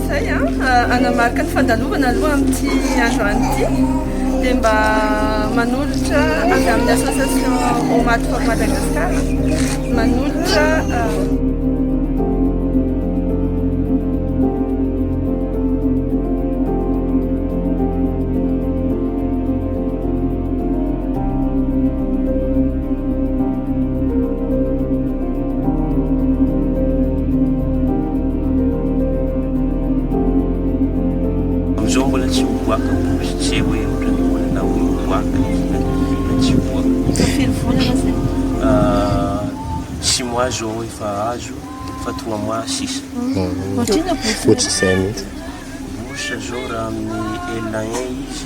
Izay hanamarika ny fandalovana aloha amin'ity androany ity dia mba manolotra avy amin'ny association Omat for Madagascar manolotra Amin'izao mbola tsy miboaka posy hoe ohatran'ny mbola na hoe miboaka izy na na tsy miboaka. Efa firy volana zay? Ah, six mois zao efa azo fa trois mois sisa. Ohatrina bourse. Ohatr'izay mihitsy. Bourse zao raha amin'ny ENA izy.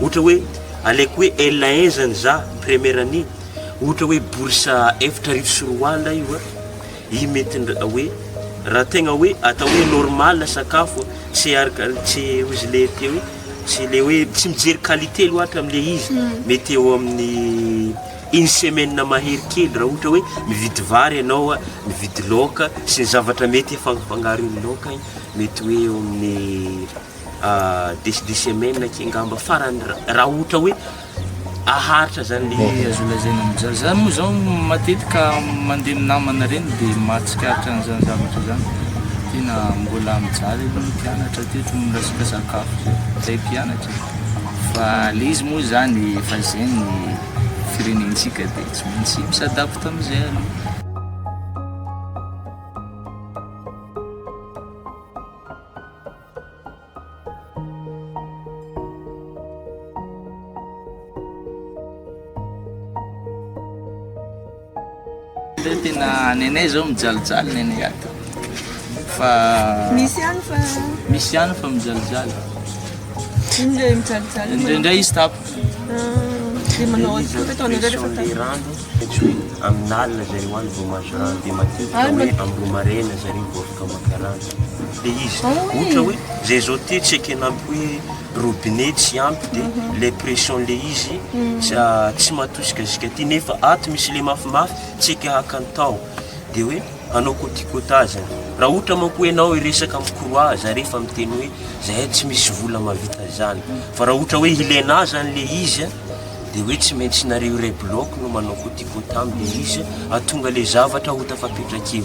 Ohatra hoe aleoko hoe Ella hein zany za première année ohatra hoe bourse efatra arivo sy roa alina io an! i mety ndra hoe raha tegna hoe atao hoe normal sakafo an! tsy araka tsy ozy le te hoe tsy le hoe tsy mijery qualité loatra am le izy mety eo amin'ny une semaine mahery kely raha ohatra hoe mividy vary ianao an! mividy laoka sy ny zavatra mety afangafangaro io laoka io mety hoe eo amin'ny des des semaines aky angamba farany raha ohatra hoe aharitra zany le Bon, azo lazaina amin'izany. Za moa zao matetika mandeha amin'ny namana ireny dia mahatsikaritra an'izany zavatra izany. Tena mbola mijaly aloha ny mpianatra teto ny resaka sakafo izay. Izay mpianatra e. Fa le izy moa izany efa izay ny firenentsika dia tsy maintsy mi-s'adapte amin'izay aloha. tena nenay zao mijalijaly nenay ato fa misy ihany fa misy ihany fa mijalijaly indray mijalijaly indraindray izy tapo dia manao azy koa tao anareo rehefa tapo rano tsy hoe amin'alina zareo any vao mahazo rano dia matetika hoe ambomarena zareo vao afaka maka rano Ilay izy ohatra hoe zay zao ty tsy ekena ampy hoe robinet tsy ampy de ilay pression ilay izy tsy matosikasika ty nefa ato misy ilay mafimafy tsy eka haka ny taho de hoe hanao coticotage zany raha ohatra manko hoe ianao hiresaka amin'ny croix za rehefa miteny hoe zahay tsy misy vola mahavita an'izany fa raha ohatra hoe hilaina ahy zany ilay izy a de hoe tsy maintsy nareo iray bloc no manao coticotage amin'ilay izy hahatonga ilay zavatra ho tafapetrak'eo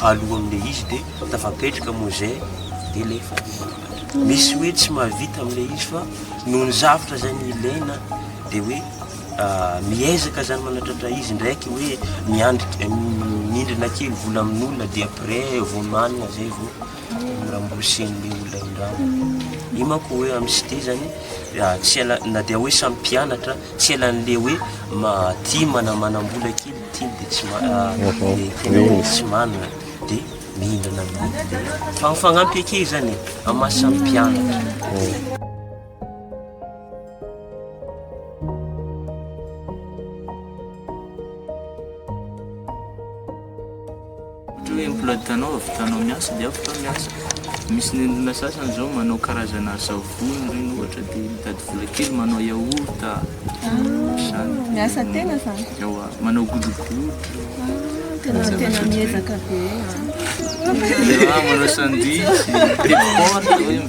aloha amle izy de tafapetraka moa zay de le efa nianatra misy hoe tsy mahavita amle izy fa noho ny zavatra zay ny ilaina de hoe miezaka zany manatratra izy ndraiky hoe miandrik mindrina kely vola amin'olona de après vao manina zay vao miramborsen'le olona indrany io manko hoe am site zany tsy ela na dia hoe samy mpianatra tsy elan'le hoe maty manamanam-bola kely Teny dia tsy manana dia mihindrana amin'ilay fa mifagnampy ake izany e amin'ny maha samy mpianatra. Ohatra hoe emploi du temps-nao avy tanao miasa dia avy tao miasa. Misy ny olona sasany izao manao karazana savony ireny ohatra dia mitady vola kely manao yaourt a, ohatr'izany. Miasa tena fa. Ewa, manao godrogodro. Tena tena miezaka be. Manao sandwich, telo porte hoe.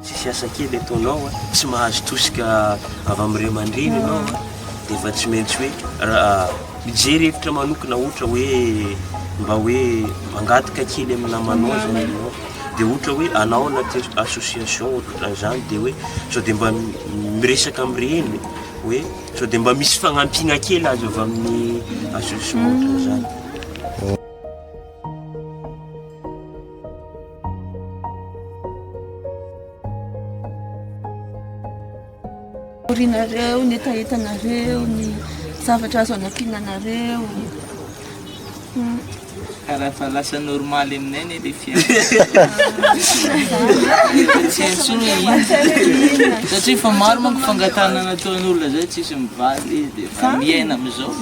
Tsisy asa kely ataonao, tsy mahazo tosika avy amin'ny ray aman-dreny ianao ah. dia efa tsy maintsy hoe ah, mijery hevitra manokana ohatra hoe mba hoe mangataka kely amin'ny namanao zany ianao. dia ohatra hoe anao anaty association ohatran'izany dia hoe sao dia mba miresaka amin'ireny hoe sao dia mba misy fagnampiana kely azo avy amin'ny association ohatran'izany Horianareo ny hetahetanareo, ny zavatra azo anampiana anareo. Ka raha efa lasa normaly aminay anie le fiainana. Tsy haiko tsony hoe inona. Satria efa maro manko fangatahana nataon'olona zay tsisy mivaly izy dia efa miaina amin'izao.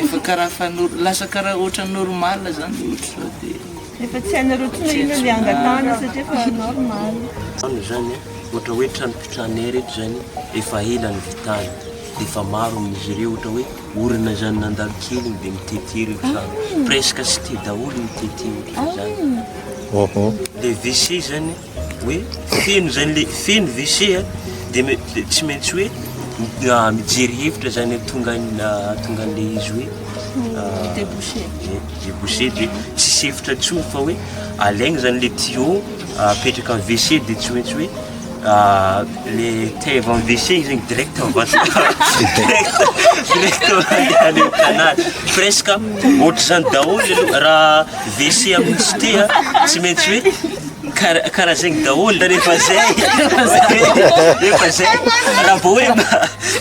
Efa karaha efa nor- lasa karaha ohatran'ny normaly zany le ohatry zao dia. Efa tsy hainareo tsony hoe inona le angatahana satria efa normal. Trano zany a, ohatra hoe trano pitrana air eto zany efa ela nivitana de efa maro amin'izy ireo ohatra hoe orina zany nandalo kely iny de mitete reo trano, presque cite daholo mitete ohatra zany, le WC zany hoe feno zany le feno WC a de me- de tsy maintsy hoe mi- ah, mijery hevitra zany hoe tonga an- ah, tonga an'le izy hoe ah, Débouché. eh, débouché de tsy sefitra tsony fa hoe alaigny zany le tuyau ah, apetraka am WC de tsy maintsy hoe ah, le tève am WC igny zegny direct mivantana direct direct mandeha any am canal presque ohatr'izany daholo aloha raha WC amin'ny site a tsy maintsy hoe Kara karaha zegny daholo da rehefa zay rehefa zay raha vao hoe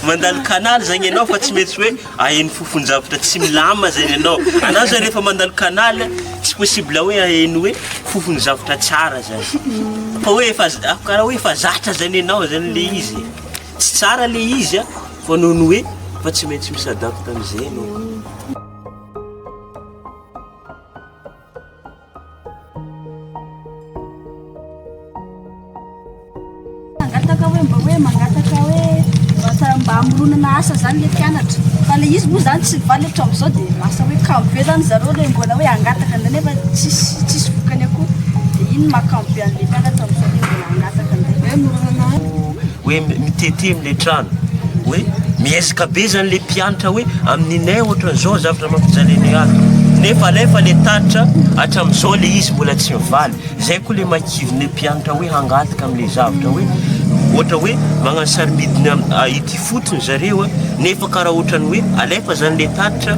mandalo canal zagny ianao fa tsy maintsy hoe aheno fofon-javatra tsy milamina zagny ianao. Anao zany rehefa mandalo canal tsy possible hoe aheno hoe fofon'ny zavatra tsara zany fa hoe efa za- ah, karaha hoe efa zatra zany ianao zany le izy e. Tsy tsara le izy a fa noho ny hoe fa tsy maintsy mi-s'adapte am'zay ianao. Mangataka hoe mba hoe mangataka hoe mba mba hamoronana asa zany le mpianatra fa le izy moa zany tsy mivaly hatramin'izao de lasa hoe kamo be zany zareo le mbola hoe hangataka indray nefa tsisy tsisy vokany akory de iny maha kamo be an'le mpianatra amin'izao le mbola hangataka indray hoe moronana Hoe mitete amle trano hoe miezaka be zany le mpiantra hoe aminy nay otrany zao zavatra mampijaliana ahy nefa alefa le tatitra atramizao le izy mbola tsy mivaly zay ko le makiviny le mpiantra hoe hangatika amle zavatra hoe otra hoe magnano sarimidiny ah, ity fotony zareo a nefa karaha otrany hoe alefa zany le tatitra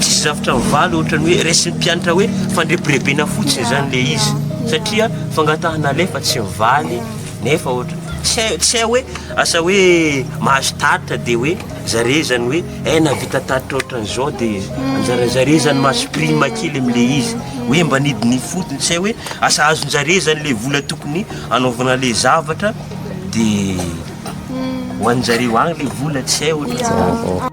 tsisy zavatra mivaly otrany hoe resin'ny mpiantra hoe fandrebirebena fotsiny zany le izy satria fangatahana alefa tsy mivaly Nefa ohatra, tsy hay, tsy hay hoe asa hoe mahazo tatitra dia hoe zareo izany hoe eh nahavita tatitra ohatran'izao dia anjaran'zareo izany mahazo prime kely amin'ilay izy hoe mba nidina ifotony, tsy hay hoe asa azon'zareo izany ilay vola tokony hanaovana ilay zavatra dia ho an'zareo agny ilay vola, tsy hay ohatra.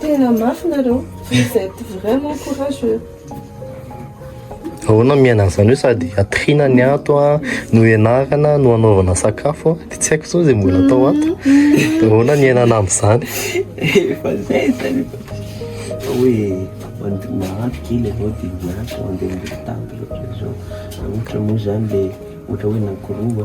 Tena mafy nareo. Vous êtes vraiment courageux. Ahoana miaina an'izany hoe sady atrina ny ato a, no ianarana, no anaovana sakafo a, dia tsy haiko izao izay mbola atao ato. Dia ahoana ny iainana amin'izany? Efa zay zany. Hoe mand- mahandro kely avao dia miasa mandeha miroa tampoka ohatr'izao. Ohatra moa zany le ohatra hoe nankorova.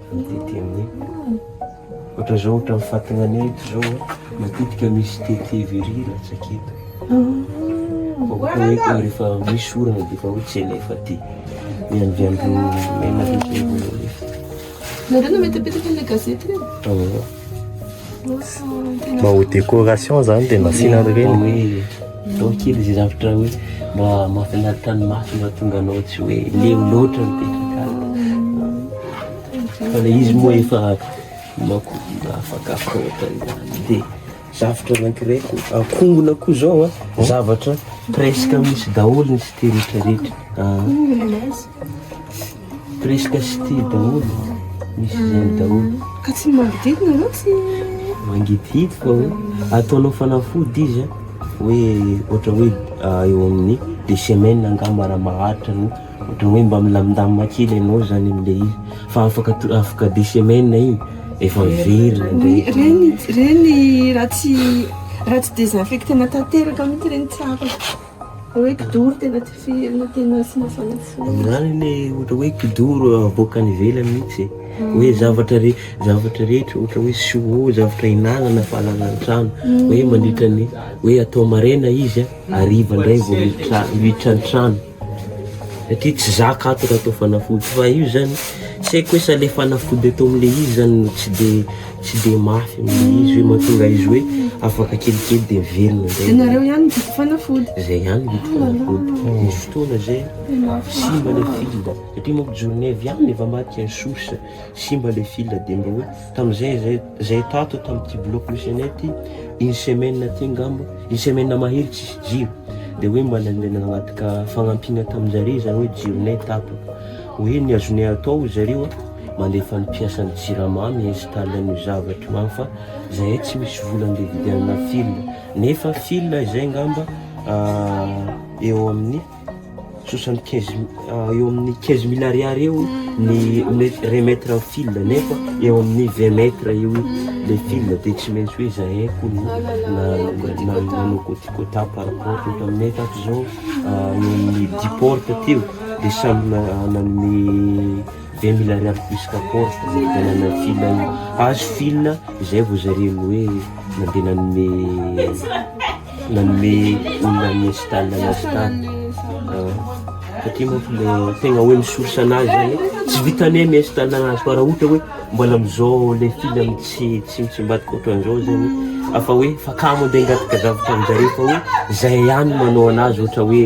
Mitety amin'ny ohatra zao ohatra ny fatinanay eto zao matetika misy tete very latsaka eto oeoe rehefa misy orana defa hoe tsy alefa ty ny andro andro mena rehefa nareo no mitapitaka an'ilay gazety reny mba ho décoration zany de nasiana an'ireny Atao kely izay zavatra hoe mba mahafinaritra ny maso mba tonga anao tsy hoe leo loatra mipetraka fa le izy moa efa mako afakafaka ohatra izany dia zavatra anankiray ko ankongona koa zao a ah. zavatra presque misy daholo ny site rehetrarehetra ah. Presque city daholo, misy zeny daholo. Ka tsy mangidihidy nareo tsy? Mangidihidy fa hoe ataonao fanafody izy a, hoe ohatra hoe eo amin'ny deux semaines angamba raha maharitra no ohatra hoe mba milamindamina kely ianao zany amin'ilay izy fa afaka to- afaka deux semaines iny efa very Ny- nandray. Ireny ireny raha tsy raha tsy desinfectena tanteraka mihitsy ireny tsy afaka. Hoe kidoro tena tifirinao, tianao sy mafana fo. Izany anie ohatra hoe kidoro avoaka any ivelany mihitsy e. Mm. Hoe zavatra re, zavatra rehetra ohatra hoe siwo, zavatra hinanana fa alana an-trano. Mm. Hoe mandritra ny hoe atao maraina izy a, hariva ndray vao miditra miditra an-trano. Satria tsy zaka ato raha atao fanafody fa io zany tsy haiko hoe sa le fanafody atao am'le izy zany no tsy de Tsy dia mafy amin'ilay izy hoe mahatonga izy hoe afaka kelikely dia velona izay. Ianareo ihany no tiako fanafody. Izay ihany no tiako fanafody. Misy fotoana izay simba ilay fil satria manko journée avy any efa maty un sous, simba ilay fil dia mba hoe tamin'izay izay izay tato tamin'ity bloc misy anay ity une semaine aty angamba une semaine mahery tsisy jiro dia hoe mba nandeha nangataka fagnampiana tamin-jareo izany hoe jironay tato. Hoe ny azonay atao ry zareo a. mandefa ny mpiasan'ny jirama mi install an'io zavatra io any fa zahay tsy misy vola andeha hividianana fil nefa fil izay ngamba eo amin'ny soixante quinze eo amin'ny quinze mille ariary eo ny remettre ny fil nefa eo amin'ny vingt mètre eo le fil dia tsy maintsy hoe zahay kono nanao côte côte par rapport eto aminay tato izao eo amin'ny dix porte teo dia samy nanome Ve mila ariary plus kapory dia nanao fil any azo fil izay vao zareny hoe nandeha nanome nanome olona any install anazy tany satria manko le tegna hoe misource anazy zany tsy vitanay mi install anazy fa raha ohatra hoe mbola amizao le fil am tsy tsy mitsimbadika ohatran'izao zany afa hoe fa kamo andeha angataka zavatra amizareo fa hoe zay ihany manao anazy ohatra hoe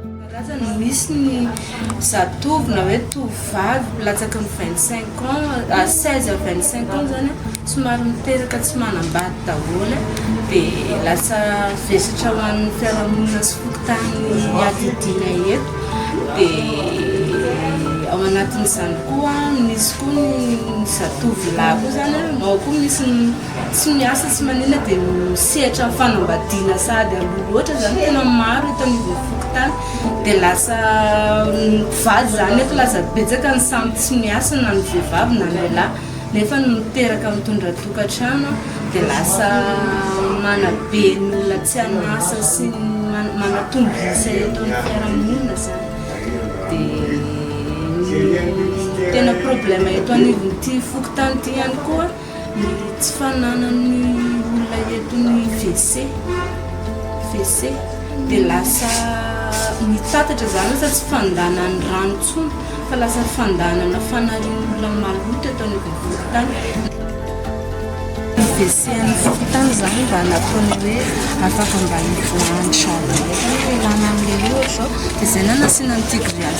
Karazana, misy ny zatovo na hoe tovovavy latsaky ny vingt cinq ans à seize à vingt cinq ans zany an, somary miteraka tsy manambady daholo an, dia lasa vesatra ho an'ny fiarahamonina sy fokontany iadidiana eto, dia ao anatin'izany koa misy koa ny zatovo lahy koa zany an, ao koa misy ny. Tsy miasa tsy manina dia ho sehatran'ny fanambadiana sahady aloha loatra izany tena maro eto anivon'ny fokontany dia lasa mpivady izany nefa lasa betsaka ny samy tsy miasa na ny vehivavy na ny lehilahy nefa ny miteraka mitondra tokantrano dia lasa manabe ny olona tsy an'asa sy ny manatombo isa eto amin'ny fiarahamonina izany dia ny tena problème eto anivon'ity fokontany ity ihany koa Ny tsy fananan'ny olona eto ny WC, WC, dia lasa mitatatra izany lasa tsy fandehanan'ny rano intsony fa lasa fandehanana fanarian'olona maloto eto anivon'ny fokontany. Ny WC an'ny fokontany izany mba nataony hoe afaka mba hivoahan'ny zaridaina, hoe hialana amin'ilay ohatra izao, dia izay no nasiana an'ity grillage ity.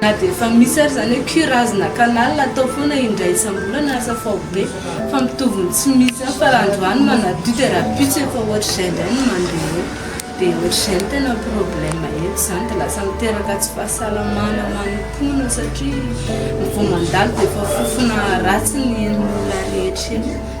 Na dia efa misy ary izany hoe curas na canal atao foana indray isam-bolana ary safaovo be fa mitovy ny tsy misy ihany fa raha androany manadio dia rahampitso efa ohatr'izay indray ny mandeha eo dia ohatr'izay no tena problème eto izany dia lasa miteraka tsy fahasalamana ho an'ny mponina satria vao mandalo dia efa fofona ratsy ny ain'olona rehetra eo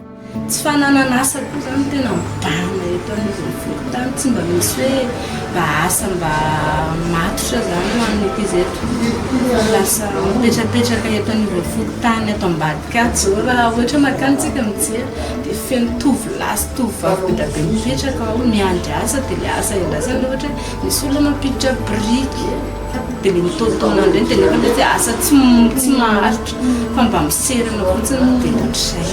Tsy fananana asa koa izany no tena mivalona eto anivon'ny fokontany, tsy mba misy hoe mba asa mba matotra izany ho an'ny ankizy eto. Lasa mipetrapetraka eto anivon'ny fokontany eto ambadika ato izao raha ohatra makany tsika mijery dia feno tovolahy sy tovovavy be dia be mipetraka ao miandry asa dia ilay asa iandrasana ohatra hoe misy olona mampiditra biriky, Dia ilay mitaotaona indray ny tenako hoe dia asa tsy tsy maharitra fa mba miserana fotsiny dia ohatr'izay.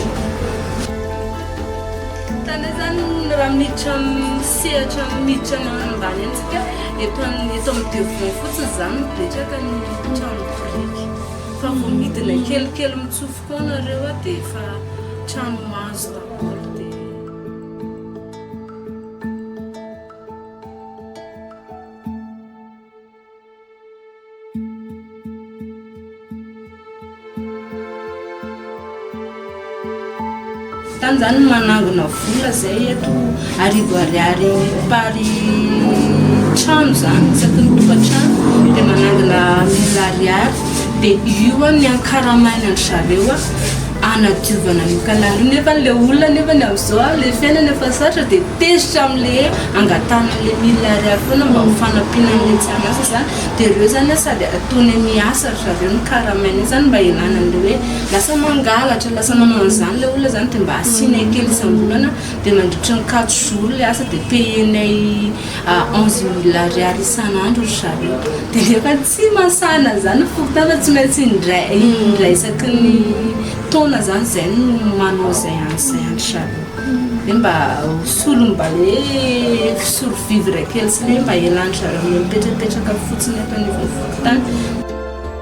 Tany izany raha miditra amin'ny sehatra miditra amin'ny ambany any isika, eto amin'ny eto amin'ny devant fotsiny izany no betsaka ny trano biriky. Fa vao midina kelikely mitsofoka ao ianareo dia efa trano hazo daholo dia. Tany zany manangona vola zay eto arivo ariary pary trano zany isaky ny tokantrano dia manangona mille ariary dia io an ny ankaramaina an-dry zareo an hanadiovana an'io canal io nefa le olona nefa ny amzao le fiainana efa sarotra de tezitra amle angatahana anle mille ariary foana mba ho fanampiana anle tsy an'asa zany de reo zany sady ataony any miasa ry zareo ny karamainy iny zany mba hialana anle hoe lasa mangalatra lasa manao an'zany le olona zany de mba asianay kely isam-bolana de mandritry ny quatre jours le asa de payenay à 11 mille ariary isan'andro ry zareo dia nefa tsy masana an'izany ny fokontany fa tsy maintsy indray indray isaky ny taona izany izay no manao izay any izay any ry zareo dia mba solony mba hoe solo vivre kely sy ny hoe mba hialan-dry zareo amin'ny hoe mipetrapetraka fotsiny eto anivon'ny fokontany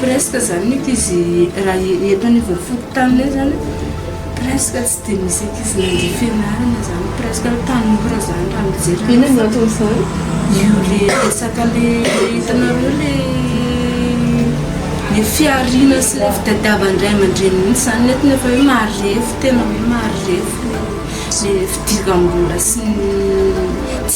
Presque zany mety izy raha eto anivon'ny fokontaninay zany presque tsy dia misy ankizy nandria fianarana zany presque hoe tanora zany raha mijery azy. Inona no anton'izany? Io le resaka le hitanareo le le fihariana sy le fitadiavan'ny ray aman-dreny mihitsy zany netiny efa hoe marefo tena hoe marefo le fidiram-bola sy ny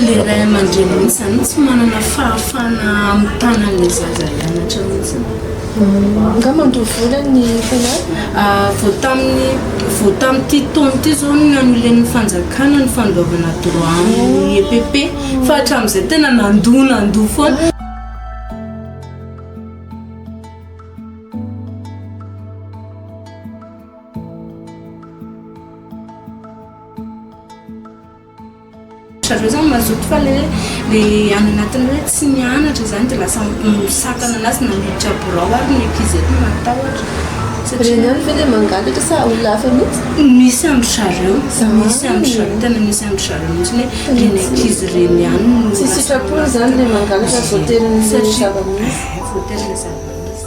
Ilay ray aman-dreny mihitsy izany no tsy manana fahafahana mitana ilay zaza hianatra mihitsy. Nga mandoa vola ny mpanala? Ah, vao tamin'ny vao tamin'ity taona ity izao no nanulen'ny fanjakana ny fandoavana droit amin'ny EPP fa hatramin'izay tena nandoa nandoa foana. Zareo zany mazoto fa le le any anatiny hoe tsy mianatra zany de lasa misakana anazy na miditra birao ary ny ankizy eto matahotra satria Ireny ihany ve le mangalatra sa olona hafa mihitsy? misy andry zareo Zany. misy andry zareo tena misy andry zareo mihitsy ny hoe le ny ankizy reny ihany no Tsy lasa sitrapony zany le mangalatra Ie. voaterin'le Satria- zava-misy. eh, voaterin'le zava-misy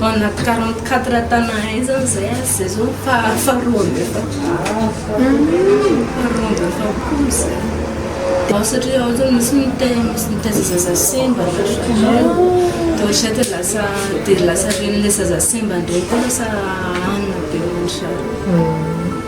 Ao anaty quarante quatre tan à un zany zay ary zay zao faha faharoa amby efapolo faharoa amby efapolo zay dia ao satria ao zany misy mite misy mitaiza zaza simba na raikareo dia ohatran'izay dia lasa dia lasa ren'ilay zaza simba indray koa lasa hanina be ohatran'izay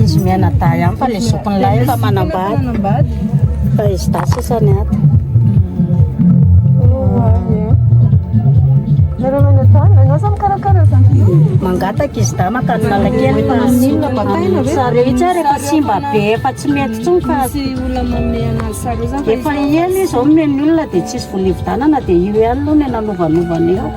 Izy mianadahy ihany fa ny zokiny lahy efa manambady. Fa izy dahy sisa ny ato. Mangataka izy dahy makany Analakely fa tsy- sary io tsy ary efa simba be efa tsy mety intsony fa Efa ela izy zao nomeny olona dia tsisy vola hividanana dia io ihany aloha no nanovanovana eo.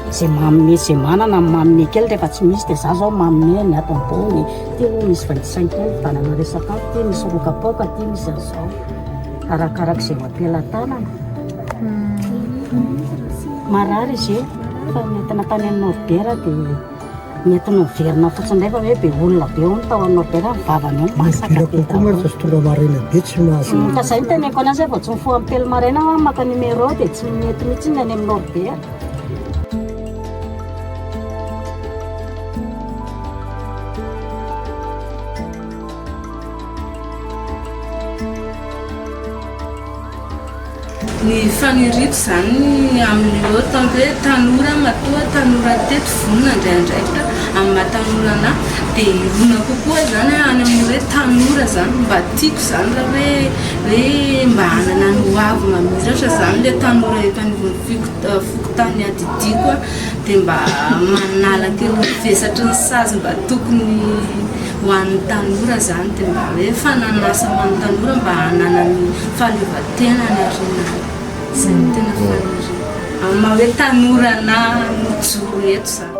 Izay manome izay manana ny manome kely rehefa tsy misy dia za zao manome ny ato ambony. Ity moa misy vingt-cinq kely hividanana resaka ato, ity misy roa kapoaka, ity misy an'izao. Arakaraka izay ho am-pelatanana. Marary izy io fa nentina tany amin'ny Norbert dia Mety noverinao fotsiny indray fa hoe be olona be hono tao anao be raha ny vavany hoe masaka be daholo. Koa mantsy azo tonga maraina be tsy mahazo. Ka izay no teneniko anazy hoe vao tsy mifoha amin'ny telo maraina aho maka numéro dia tsy mety mihitsy ny any amin'ny Norbert. Ny faniriako izany ny amin'ireo ataony hoe tanora matoa tanora teto vonona handray andraikitra amin'ny maha tanora anah dia hirona kokoa izany aho any amin'ny hoe tanora izany mba tiako izany raha hoe hoe mba hanana ny ho avy mamiratra izany ilay tanora eto anivon'ny foko- fokontany niadidiako aho dia mba manala kely ny vesatry ny sazy mba tokony Ho an'ny tanora izany dia mba hoe fanan'asa ho an'ny tanora mba hananany fahaleovantenany ary ny izay no tena faniriana amin'ny maha hoe tanora na mijoro eto izany.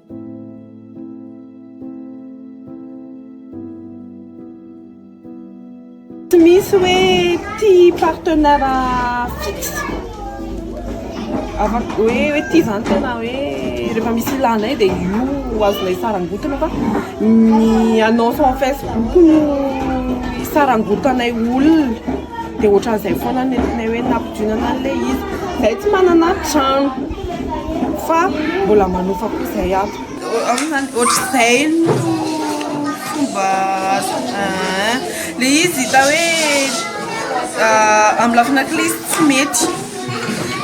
Tsy misy hoe tia partenaire fixe. Afaka hoe hoe ity izany tena hoe rehefa misy ilanay dia io azonay sarangotana fa ny annonce en Facebook no isarangotanay olona. dia ohatran'izay foana no nentinay hoe nampidionana an'ilay izy. Izahay tsy manana trano fa mbola manofa koa izay ato. Amin'izany ohatr'izay no fomba azo ah, ilay izy hita hoe ah, amin'ny lafina kely izy tsy mety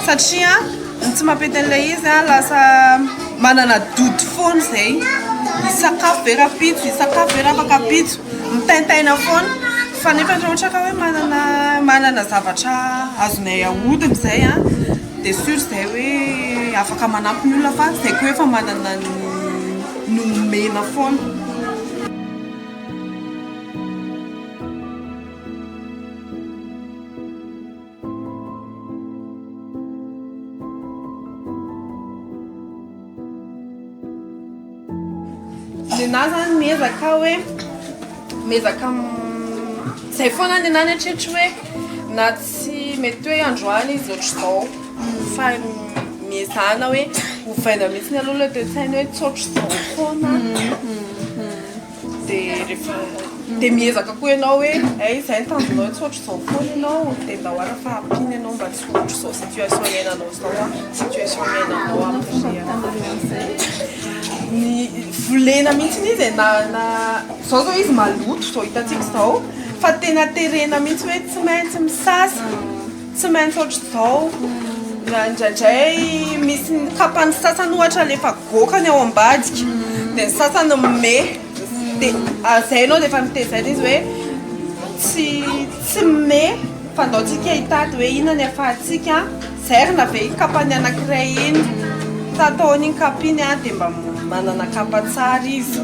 satria ny tsy mampety an'ilay izy ah, lasa manana doute foana izay hisakafo be rahampitso, hisakafo be raha afaka ampitso, mitaintaina foana. Fa nefa raha ohatra ka hoe manana manana zavatra azonay ahodina izay an, dia sûr izay hoe afaka manampy ny olona fa izay koa efa manana ny nomena foana. Nenaha zany miezaka aho hoe miezaka izay foana ny nenaha ny hatreto hoe na tsy mety hoe androany izy ohatr'izao fa miezahana hoe ovaina mihitsy aloha ilay toe-tsaina hoe tsy ohatr'izao foana. Dia miezaka koa ianao hoe hay izay ny tanjonao tsy ohatr'izao foana ianao dia mba hoarina fa ampiana ianao mba tsy ho ohatr'izao situation iainanao izao an, situation iainanao volena mihintsy izy e, na na izao izao izy maloto izao hitantsika izao fa tena terena mihintsy hoe tsy maintsy misasa. Tsy maintsy ohatr'izao, na indraindray misy ny kapany sasany ohatra le efa goaka ny ao ambadika, dia ny sasany mey, dia izay ianao dia efa notezaina izy hoe tsy tsy mey fa andao tsika hitady hoe inona ny ahafahantsika zairina ve iny kapany anankiray iny, sa ataony iny kapa iny an dia mba manana kapa tsara izy.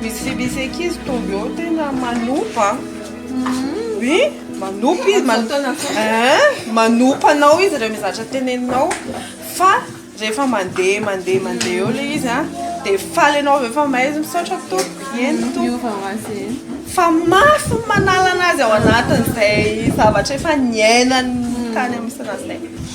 Misy filisy ankizy tonga eo tena manopa oui manopa izy man- Hein? manopa anao izy rehefa mizatra teneninao fa rehefa mandeha mandeha mandeha eo le izy a de faly anao avy eo fa mahaizy misaotra tompoko eny tompoko Miova ho azy eny. fa mafy ny manala anazy ao anatin'izay zavatra efa niainany tany amin'ny sanatria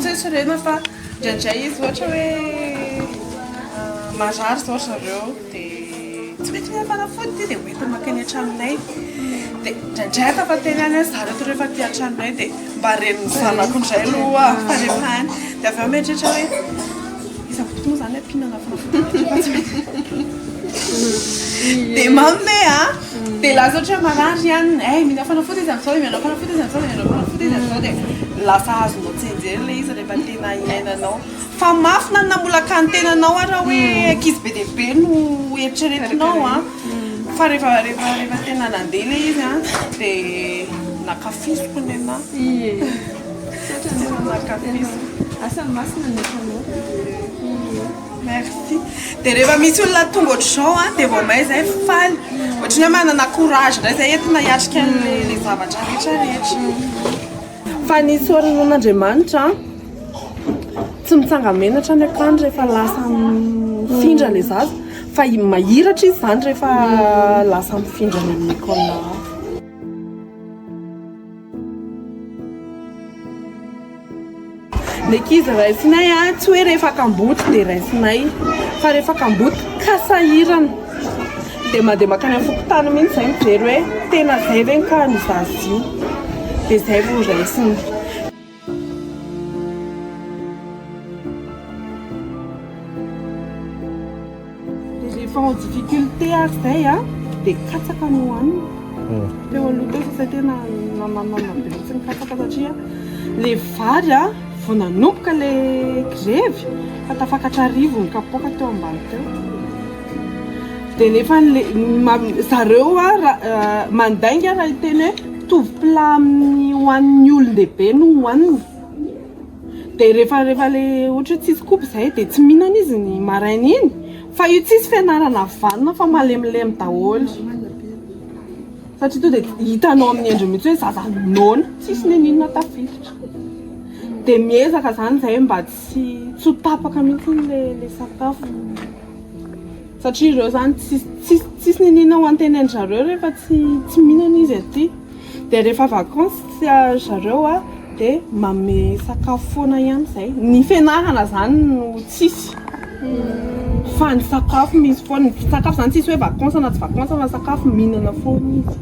Tsoitsorena fa indraindray izy ohatra hoe marary izao ry zareo dia tsy mety mihafanafody ity dia hoentina mankeny an-tranonay. Dia indraindray afa-teny any ry zareo rehefa aty an-tranonay dia mba ren'ny zanako indray aloha fa rehefa any. Dia avy eo mieritreritra hoe. Iza fototra moa zany ampiana anatiny fanafody de mamme a de lasa ohatra marary ihany eh mila fanafody izy amizao de mianao fanafody izy amizao de mianao fanafody izy amizao de lasa azonao tsenjery le izy rehefa tena iainanao fa mafy na namolaka ny tenanao ara hoe ankizy be dia be no eritreretinao a fa rehefa rehefa rehefa tena nandeha le izy a de nakafiziko ny anah Misaotra anao Ramakafisina. Asa masina ny asanao. Merci. Dia rehefa misy olona tonga ohatr'izao an, dia vao may izay faly. Ohatry ny hoe manana courage indray izay entina hiatrika an'ilay zavatra rehetra rehetra. Fa ny soron'Andriamanitra tsy mitsanga-menatra ny akany rehefa lasa mifindra ilay zaza. Fa mahiratra izy izany rehefa lasa mifindra any amin'ny école hafa. Ny ankizy raisinay a, tsy hoe rehefa kamboty dia raisinay fa rehefa kamboty ka sahirana dia mandeha mankany amin'ny fokontany mihitsy izay mijery hoe tena izay ve ny cas-n'i Zaza io? dia izay vao raisina. Rehefa en difficulté ary izay a, dia katsaka no hohanina. Teo aloha teo sasay tena nananana be mihitsy ny katsaka satria ilay vary a, vao nanomboka ilay grevy fa tafakatra arivo ny kapoaka teo ambany teo. Dia nefa zareo a, mandainga raha hiteny hoe. mitovy plat amin'ny ho an'ny olon-dehibe no hohaniny dia rehefa rehefa le ohatra hoe tsisy koba izay dia tsy mihinana izy ny maraina iny fa io tsisy fianarana vanona fa malemilemy daholo satria to dia hitanao amin'ny endriny mihitsy hoe zaza noana tsisy nininona tafiditra dia miezaka izany izay mba tsy tsy ho tapaka mihitsy le le sakafo Satria ireo zany tsisy tsisy niniana ho anteny an zareo rehefa tsy tsy mihinana izy aty dia rehefa vacances tsy ary zareo a dia mame sakafo foana ihany zay ny fianarana zany no tsisy fa ny sakafo misy foana ny sakafo zany tsisy hoe vacances na tsy vacances fa sakafo mihinana foana izy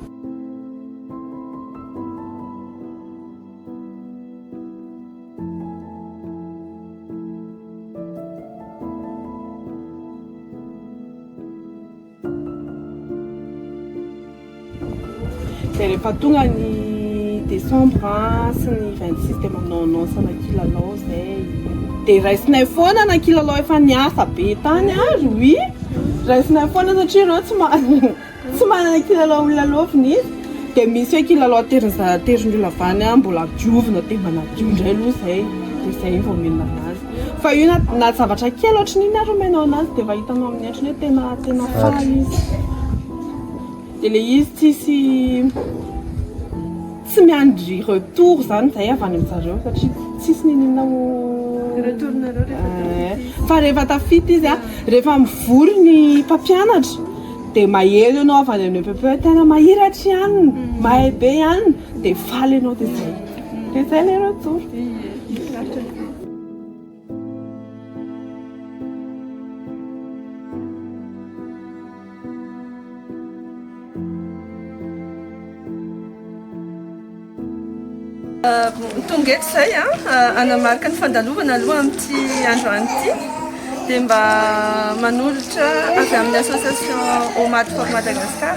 Dia rehefa tonga ny décembre sy ny 26 dia manao annonce ana kilalao zay. Dia raisinay foana ana kilalao efa niasa be tany ary oui. Raisinay foana satria ireo tsy ma- Tsy manana kilalao lalaovina izy dia misy hoe kilalao atery aterin'ny olona avy any mbola diovina dia manadio indray aloha izay dia izay vao omena anazy fa io na zavatra kely ohatran'iny ary omenao anazy dia efa hitanao amin'ny endriny hoe tena tena faly izy dia le izy tsisy Tsy miandry retour izany izahay avy any aminjareo satria tsisy niniana ho retour nareo rehefa tafita fa rehefa tafita izy a rehefa mivory ny mpampianatra dia mahery ianao avy any amin'ny EPPE tena mahiratra ihany mahay be ihany dia faly ianao dia izay dia izay ilay retour Tonga eto izay an, ah, anamarika ny fandalovana aloha amin'ity andro any ity dia mba manolotra avy amin'ny association Omad for Madagascar.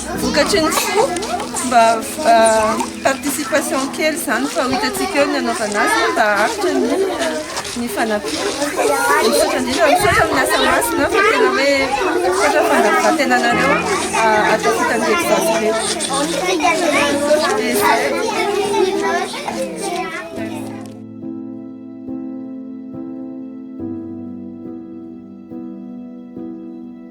Vokatry ny tsy ho mba participation kely izany fa ho hitantsika eo ny hanaovana azy mba haharitra ny ny fanampiana. Misaotra indrindra, misaotra amin'ny asa masina fa tena hoe misaotra fandavan-tenanareo ahatakota ny episode rehetra.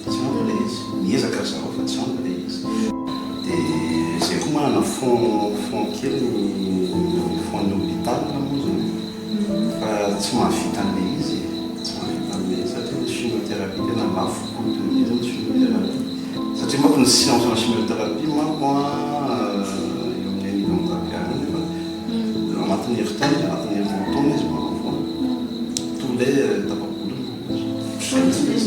Tsy ampy ilay izy. Miezaka ry zareo fa tsy ampy ilay izy. Dia izay koa manana fonds fonds kely ny fonds ny hôpital moa izany e. Fa tsy mahavita an'ilay izy e. Tsy mahavita an'ilay izy satria ny chimiothérapie tena lafo coûte be izy ny chimiothérapie. Satria manko ny séance ana chimiothérapie manko an eo amin'ny un million tapiahy any nefa eo anatin'ny herintaona anatin'ny roa taona izy vao manao foana. Tous les tapa-bolony manko izy. Otr'izay ny stress.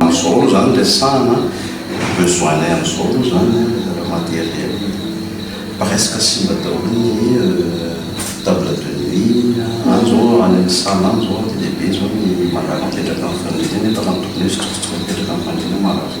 Amin'izao aloha izany resahana besoin-nay amin'izao aloha izany resaka matériel presque simba daholo ny table de nuit, any izao any amin'ny salle any izao be dia be izao ny marary mipetraka amin'ny fandriana nefa raha ny tokony ho izy tsy tokony hipetraka amin'ny fandriana marary.